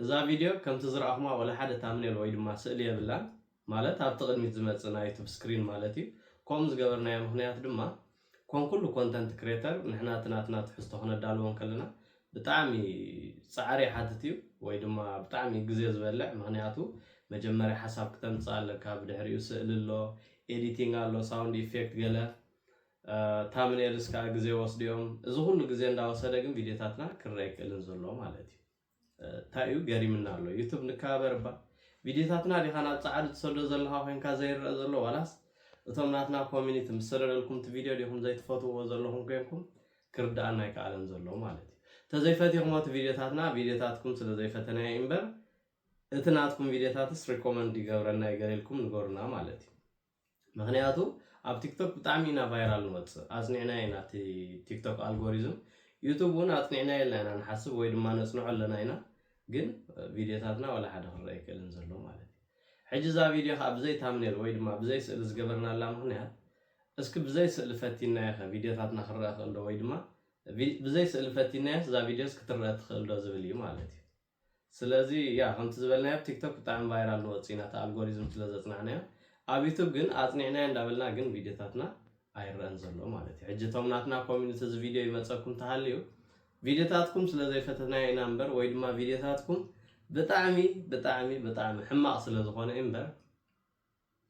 እዛ ቪድዮ ከምቲ ዝረኣኹማ ወላ ሓደ ታምኔል ወይ ድማ ስእሊ የብላን ማለት ኣብቲ ቅድሚት ዝመጽእ ናይ ዩቱብ ስክሪን ማለት እዩ ኮምኡ ዝገበርናዮ ምኽንያት ድማ ኮም ኩሉ ኮንተንት ክሬተር ንሕና እቲ ናትና ትሕዝቶ ክነዳልዎ እንከለና ብጣዕሚ ጻዕሪ ይሓትት እዩ ወይ ድማ ብጣዕሚ ግዜ ዝበልዕ ምኽንያቱ መጀመርያ ሓሳብ ክተምጽእ ኣለካ ብድሕሪኡ ስእሊ ኣሎ ኤዲቲንግ ኣሎ ሳውንድ ኢፌክት ገለ ታምኔልስ ከኣ ግዜ ይወስዱ እዮም እዚ ኩሉ ግዜ እንዳወሰደ ግን ቪድዮታትና ክረኣ ኣይክእልን ዘሎ ማለት እዩ ታይ እዩ ገሪምና ኣሎ ዩቱብ ንከባበር እባ ቪድዮታትና ዲኻ ናብ ጻዓዱ ትሰዶ ዘለኻ ኮንካ ዘይረኣ ዘሎ ዋላስ እቶም ናትና ኮሚኒቲ ምስ ሰደደልኩም እቲ ቪድዮ ዲኹም ዘይትፈትውዎ ዘለኹም ኮንኩም ክርዳኣና ኣይከኣለን ዘሎ ማለት እዩ ተዘይ ፈቲኽሞ እቲ ቪድዮታትና ቪድዮታትኩም ስለ ዘይፈተናዮ ኢምበር እቲ ናትኩም ቪድዮታትስ ሪኮመንድ ይገብረልና እዩ ገለ ኢልኩም ንገሩና ማለት እዩ ምክንያቱ ኣብ ቲክቶክ ብጣዕሚ ኢና ቫይራል ንወፅእ ኣፅኒዕናዮ ኢና እቲ ቲክቶክ ኣልጎሪዝም ዩቱብ እውን ኣፅኒዕናዮ ኣልና ኢና ንሓስብ ወይ ድማ ነፅንዖ ኣለና ኢና ግን ቪድዮታትና ዋላ ሓደ ክረአ ኣይክእልን ዘሎ ማለት እዩ ሕጂ እዛ ቪድዮ ከዓ ብዘይ ታምኔል ወይ ድማ ብዘይ ስእሊ ዝገበርናላ ምክንያት እስኪ ብዘይ ስእሊ ፈቲናዮ ከ ቪድዮታትና ክረአ ክእል ዶ ወይ ድማ ብዘይ ስእሊ ፈቲናዮስ እዛ ቪድዮስ ክትረአ ትክእል ዶ ዝብል እዩ ማለት እዩ ስለዚ ያ ከምቲ ዝበልናዮ ኣብ ቲክቶክ ብጣዕሚ ቫይራል ንወጽእ ኢና እቲ ኣልጎሪዝም ስለ ዘጽናዕናዮ ኣብ ዩቱብ ግን ኣጽኒዕናዮ እንዳበልና ግን ቪድዮታትና ኣይረኣን ዘሎ ማለት እዩ ሕጂ እቶም ናትና ኮሚኒቲ እዚ ቪድዮ ይመጸኩም ተሃልዩ ቪድዮታትኩም ስለ ዘይፈተትናዮ ኢና እምበር ወይ ድማ ቪድዮታትኩም ብጣዕሚ ብጣዕሚ ብጣዕሚ ሕማቕ ስለ ዝኾነ እምበር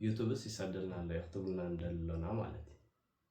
ዩቱብስ ይሰደልና ኣሎ እዩ ክትብሉና ንደሊ ኣሎና ማለት እዩ